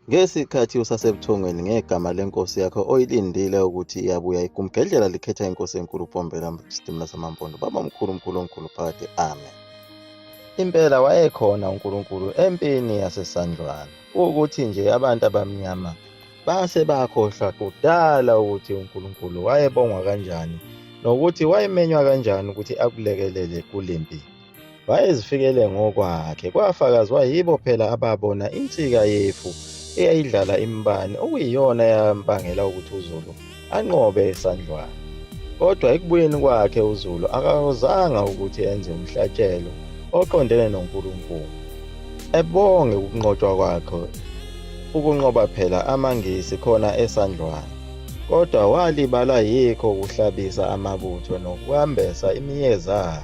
Ngesikhathi usasebuthongweni ngegama lenkosi yakho oyilindile ukuthi iyabuya igumgedlela likhetha inkosi enkulu upombela sidimula samampondo baba mkhulu mkhulu omkhulu phakathi amen impela wayekhona unkulunkulu empini yasesandlwana ukuthi nje abantu abamnyama base bakhohlwa kudala ukuthi unkulunkulu wayebongwa kanjani nokuthi wayemenywa kanjani ukuthi akulekelele kule mpilo wayezifikele ngokwakhe kwafakazwa yibo phela ababona insika yefu eyayidlala imbani okuyiyona yambangela ukuthi uzulu anqobe esandlwana kodwa ekubuyeni kwakhe uzulu akawuzanga ukuthi enze umhlatshelo oqondene nonkulunkulu ebonge ukunqotshwa kwakhe ukunqoba phela amangisi khona esandlwana kodwa walibala yikho ukuhlabisa amabutho nokuhambesa imiyezana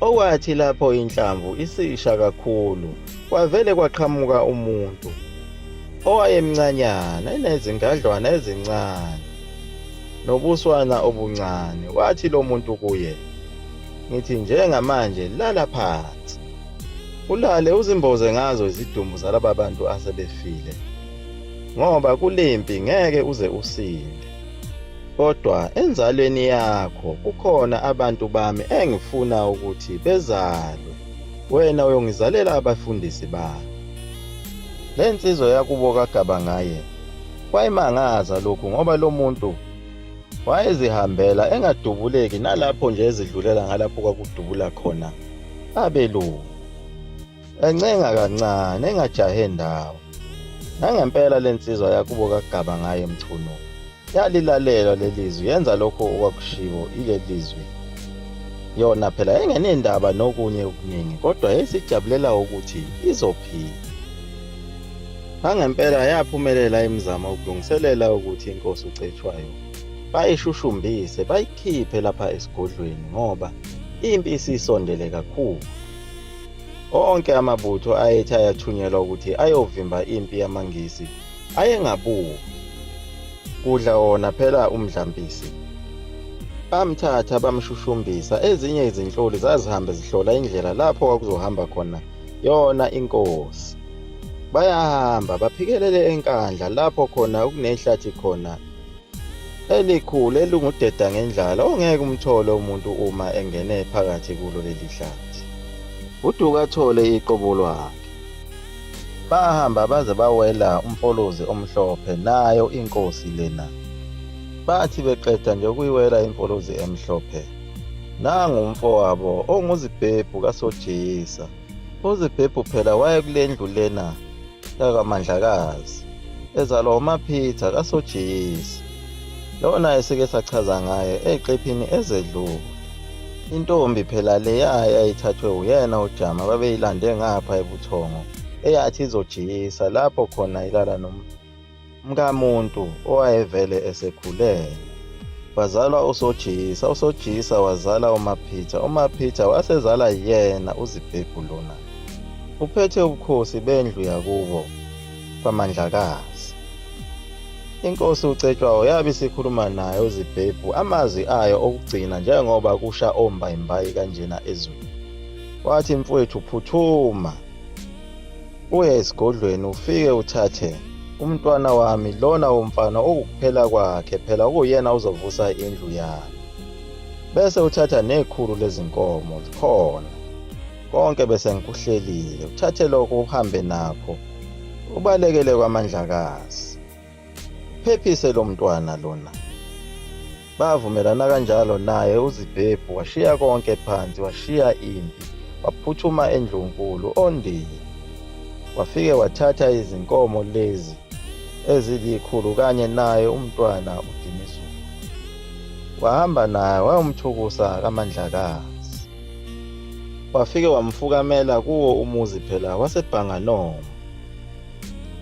Okwathi lapho inhlamvu isisha kakhulu, kwavele kwaqhamuka umuntu owayemncanyana enezingadlwana ezincane nobuswana obuncane. Wathi lo muntu kuye, ngithi njengamanje lala phansi ulale uzimboze ngazo izidumbu zalaba bantu asebefile ngoba kulimpi ngeke uze usinde. Kodwa enzalweni yakho kukhona abantu bami engifuna ukuthi bezalwe, wena uyongizalela abafundisi bami. Le nsizwa yakubo kagaba ngaye wayimangaza lokhu ngoba lo muntu wayezihambela engadubuleki nalapho nje ezidlulela ngalapho kwakudubula khona abelungu. encenga kancane engajahe ndawo nangempela le nsizwa yakubo kagaba ngaye mchunu yalilalelwa lelizwi yenza lokho okwakushiwo ilelizwi yona phela engenendaba nokunye okuningi kodwa yayisijabulela ukuthi izophila nangempela yaphumelela imizamo ukulungiselela ukuthi inkosi ucetshwayo bayishushumbise bayikhiphe lapha esigodlweni ngoba impi isisondele kakhulu Onke amabutho ayethi ayathunyelwa ukuthi ayovimba impi yamaNgisi ayengabuki. Kudla wona phela umdlampisi. Bamthatha bamshushumbisa, ezinye izinhloli zazihambe zihlola indlela lapho kwakuzohamba khona yona inkosi. Bayahamba baphikelele enkandla lapho khona okunehlathi khona elikhulu elingudeda ngendlala ongeke umthole umuntu uma engene phakathi kulo leli hlathi uduka athole iqobo lwakhe bahamba baze bawela umfolozi omhlophe nayo inkosi lena bathi beqeda nje ukuyiwela imfolozi emhlophe nangu umfowabo onguzibhebhu kasojiyisa uzibhebhu phela wayekule ndlu lena yakaMandlakazi ezalwa uMaphitha kaSojiyisi. Lowo naye sike sachaza ngaye eqephini ezedlule. Intombi phela leya yayithathwe uyena uJama babeyilande ngapha ebuthongo eyathi izojiyisa lapho khona ilala nomntu. mkamuntu owayevele esekhulelwe wazalwa usojisa usojisa wazala umaphitha umaphitha wasezala yena uzibhebhu lona uphethe ubukhosi bendlu yakubo kwamandlakazi inkosi ucetshwayo yabe isikhuluma naye uzibhebhu amazwi ayo okugcina njengoba kusha ombayimbayi kanjena ezweni wathi mfowethu phuthuma uye esigodlweni ufike uthathe umntwana wami lona womfana okukuphela kwakhe phela kuyena uzovusa indlu yami bese uthatha nekhulu lezinkomo likhona konke bese ngikuhlelile uthathe lokho uhambe nakho ubalekele kwamandlakazi phephise lo mntwana lona bavumelana kanjalo naye uzibhebhu washiya konke phansi washiya impi waphuthuma endlunkulu ondini wafike wathatha izinkomo lezi ezilikhulu kanye naye umntwana udinizulu wahamba naye wayomthukusa kamandlakazi wafike wamfukamela kuwo umuzi phela wasebhanganoma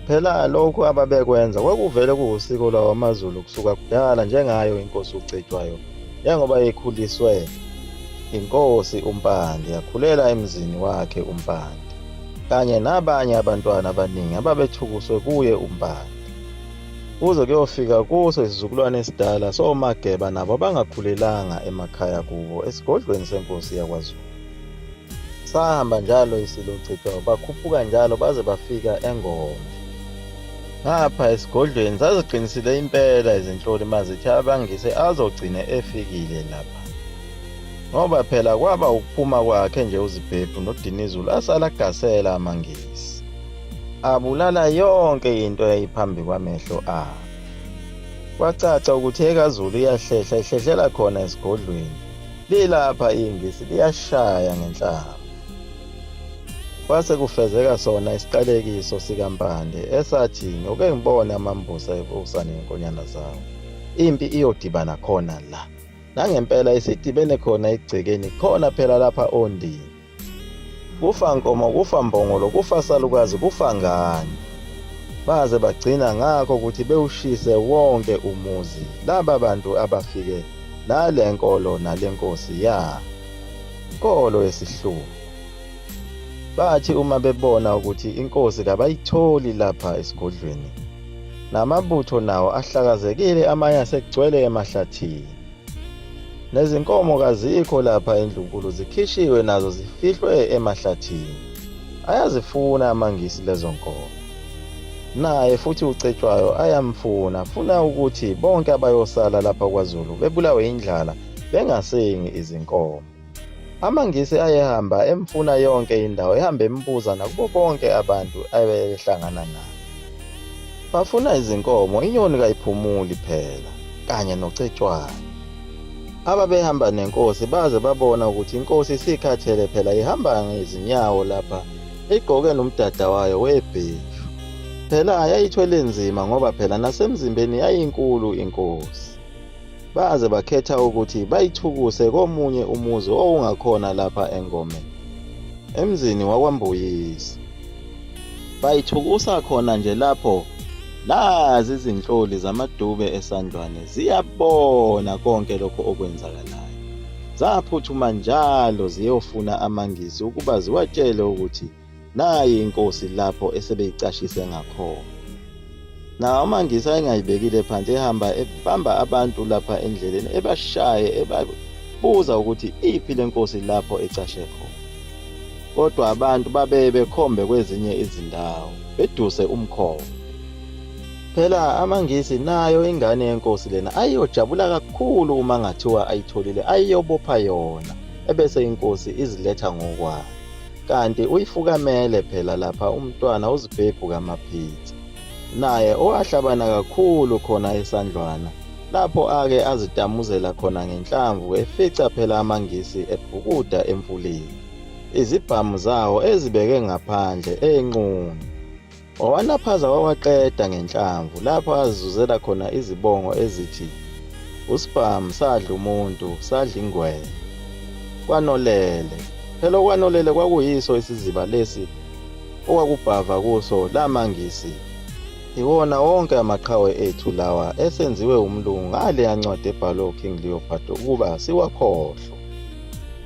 Phela lokhu ababekwenza kwakuvele kuwusiko lwawo amaZulu kusuka kudala njengayo inkosi uCetshwayo njengoba ekhuliswe inkosi uMpande yakhulela emzini wakhe uMpande kanye nabanye abantwana abaningi ababethukuswe kuye uMpande kuze kuyofika kuso isizukulwane esidala soMageba nabo abangakhulelanga emakhaya kubo esigodlweni senkosi yakwaZulu. Sahamba njalo isilo Chithwa bakhuphuka njalo baze bafika eNgoma. Ngapha esigodlweni zaziqinisile impela izinhloli mazithi abangise azogcine efikile lapha. Ngoba phela kwaba ukuphuma kwakhe nje uZibhebhu noDinizulu asala gasela amangisi. Abulala yonke into eyayiphambi kwamehlo abo. Kwacaca ukuthi ekaZulu iyahlehla ihlehlela khona esigodlweni. Lilapha ingisi liyashaya ngenhlamba. Kwase kufezeka sona isiqalekiso sikaMpande esathi ngoke ngibone amambusa ebusa nenkonyana zawo. Impi iyodibana khona la. Nangempela isidibene khona egcekeni khona phela lapha ondini. Kufa nkomo, kufa mbongolo, kufa salukazi, kufa ngane. Baze bagcina ngakho ukuthi bewushise wonke umuzi laba bantu abafike nale nkolo nale nkosi ya nkolo yesihluku. Bathi uma bebona ukuthi inkosi kabayitholi lapha esigodlweni, namabutho nawo ahlakazekile amanye asegcwele emahlathini. Nezinkomo kazikho lapha endlunkulu zikhishiwe nazo zifihlwe emahlathini. Ayazifuna amangisi lezo nkomo. Naye futhi uCetshwayo ayamfuna, funa ukuthi bonke abayosala lapha kwaZulu bebulawe indlala bengasengi izinkomo. AmaNgisi ayehamba emfuna yonke indawo, ehamba embuza nakubo bonke abantu ayehlangana nabo. Bafuna izinkomo, inyoni kayiphumuli phela, kanye nocetshwana. Ababehamba nenkosi baze babona ukuthi inkosi isikhathele phela ihamba ngezinyawo lapha, igqoke nomdada wayo webheshu. Phela yayithwele nzima ngoba phela nasemzimbeni yayinkulu inkosi. baze bakhetha ukuthi bayithukuse komunye umuzi owungakhona lapha engomeni emzini wakwambuyisa bayithukusa khona nje lapho nazi izinhloli zamadube esandlwane ziyabona konke lokho okwenzakalayo zaphuthuma njalo ziyofuna amangisi ukuba ziwatshele ukuthi Nayi inkosi lapho esebeyicashise ngakhona. Nawo amangisi ayengayibekile phansi ehamba ebamba abantu lapha endleleni ebashaye ebabuza ukuthi iphi le nkosi lapho ecashe khona. Kodwa abantu babeye bekhombe kwezinye izindawo beduse umkhombe. Phela amangisi nayo ingane yenkosi lena ayiyojabula kakhulu uma ngathiwa ayitholile ayiyobopha yona ebese inkosi iziletha ngokwayo. kanti uyifukamele phela lapha umntwana uzibhebhu kamaphithi naye owahlabana kakhulu khona esandlwana lapho ake azitamuzela khona ngenhlamvu efica phela amangisi ebhukuda emfuleni izibhamu zawo ezibeke ngaphandle enqunu Wawanaphaza wawaqeda ngenhlamvu lapho azizuzela khona izibongo ezithi usibhamu sadla umuntu sadla ingwenya kwanolele phela okwanolele kwakuyiso isiziba lesi okwakubhava kuso lamangisi iwona wonke amaqhawe ethu lawa esenziwe umlungu ngale yancwadi ebhalwe uking leopardo ukuba siwakhohlwe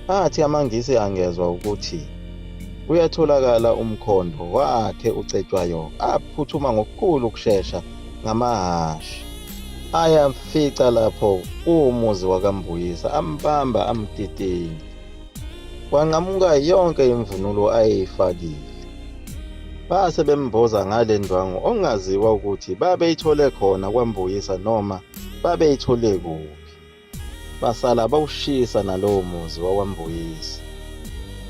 Athi amaNgisi angezwa ukuthi kuyatholakala umkhondo wakhe uCetshwayo aphuthuma ngokukhulu ukushesha ngamahhashi ayamfica lapho kuwumuzi wakaMbuyisa ambamba amtitinya kwanqamuka yonke imvunulo ayeyifakile base bemboza ngale ndwangu ongaziwa ukuthi babeyithole khona kwaMbuyisa noma babeyithole kuphi Basala bawushisa nalowo muzi wakwambuyisi.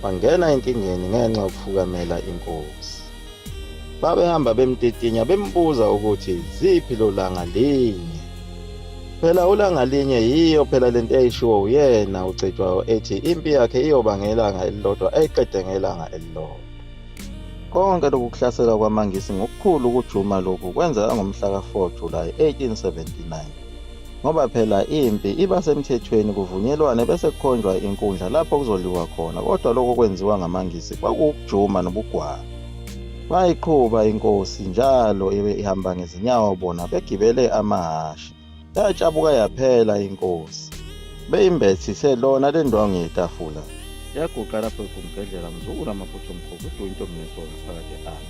Bangena enkingeni ngenxa yokufukamela inkosi. Babehamba bemtitinya bembuza ukuthi ziphi lo langa linye. Phela ulanga linye yiyo phela lento eyishiwo uyena uCetshwayo ethi impi yakhe iyoba ngelanga elilodwa ayiqede ngelanga elilodwa. Konke lokhu kuhlasela kwamaNgisi ngokukhulu ukujuma lokhu kwenzeka ngomhla ka-4 Julayi 1879. ngoba phela impi iba semthethweni kuvunyelwane bese kukhonjwa inkundla lapho kuzodliwa khona kodwa lokho kwenziwa ngamangisi kwakuwukujuma nobugwala bayiqhuba inkosi njalo ibe ihamba ngezinyawo bona begibele amahhashi yatshabuka yaphela inkosi beyimbethise lona le ndwangu yetafula yaguqa lapho igumgedlela mzukulu amaphutha omkhulu uduwa intombi ngesona phakathi ami